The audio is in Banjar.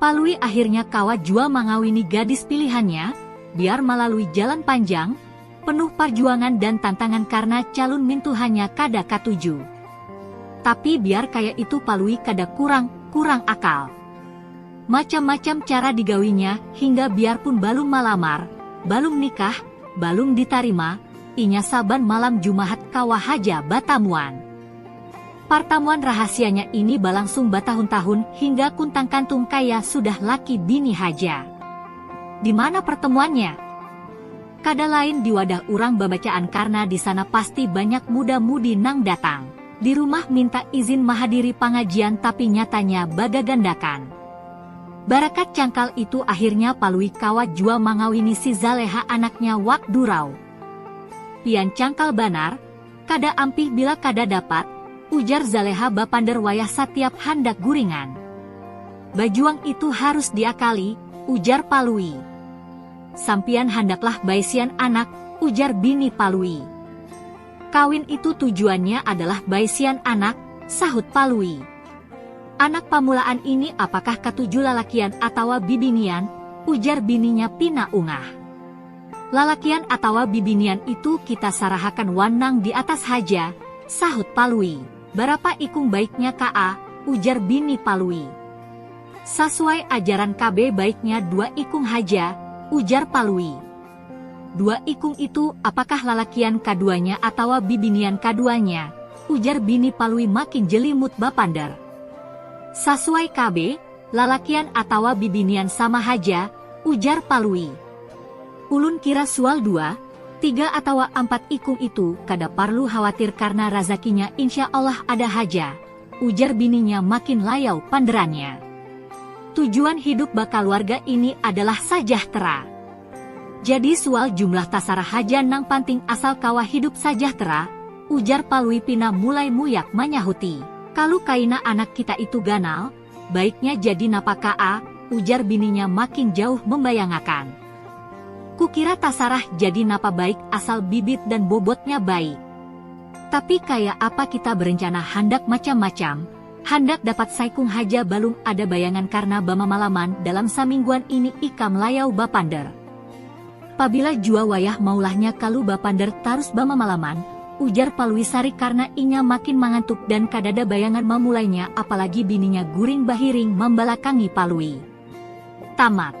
Palui akhirnya kawa jua mangawini gadis pilihannya, biar malalui jalan panjang, penuh parjuangan dan tantangan karna calun mintuhanya kada katuju. Tapi biar kaya itu Palui kada kurang kurang akal. Macam-macam cara digawinya hingga biarpun balum malamar, balum nikah, balum ditarima, inya saban malam Jumahat kawa haja batamuan. Partamuan rahasianya ini balangsung batahun-tahun hingga kuntang kantung kaya sudah laki bini haja. Di mana pertemuannya? Kada lain di wadah urang babacaan karna di sana pasti banyak muda-mudi nang datang. Di rumah minta izin mahadiri pangajian tapi nyatanya bagagandakan. Barakat cangkal itu akhirnya Palui kawa jua mangawini si Zaleha anaknya Wak Durau. Pian cangkal banar. Kada ampih bila kada dapat, ujar Zaleha bapander wayah satiap handak guringan. Bajuang itu harus diakali, ujar Palui. Sampiyan handaklah baisian anak, ujar bini Palui. Kawin itu tujuannya adalah baisian anak, sahut Palui. Anak pamulaan ini apakah katuju lalakian atawa bibinian, ujar bininya pina ungah. Lalakian atawa bibinian itu kita sarahakan wan nang di atas haja, sahut Palui. Barapa ikung baiknya kaa, ujar bini Palui. Sasuai ajaran KB baiknya dua ikung haja, ujar Palui. Dua ikung itu apakah lalakian kaduanya atawa bibinian kaduanya, ujar bini Palui makin jelimut bapander. Sasuai KB, lalakian atawa bibinian sama haja, ujar Palui. Ulun kira sual dua, tiga atawa ampat ikung itu kada parlu khawatir karna razakinya insya Allah ada haja, ujar bininya makin layau panderannya. Tujuan hidup bakaluarga ini adalah sajahtera. Jadi sual jumlah tasarah haja nang panting asal kawa hidup sajahtera, ujar Palui pina mulai muyak manyahuti. Kalu kaina anak kita itu ganal, Baiknya jadi napa kaa, ujar bininya makin jauh membayangakan. Kukira tasarah jadi napa baik asal bibit dan bobotnya baik. Tapi kaya apa kita berencana handak macam-macam, handak dapat saikung haja balum ada bayangan karna bamamalaman dalam samingguan ini ikam layau bapander. Pabila jua wayah maulahnya kalu bapander tarus bamamalaman, ujar Palui sarik karna inya makin mangantuk dan kadada bayangan mamulainya apalagi bininya guring bahiring mambalakangi Palui. Tamat.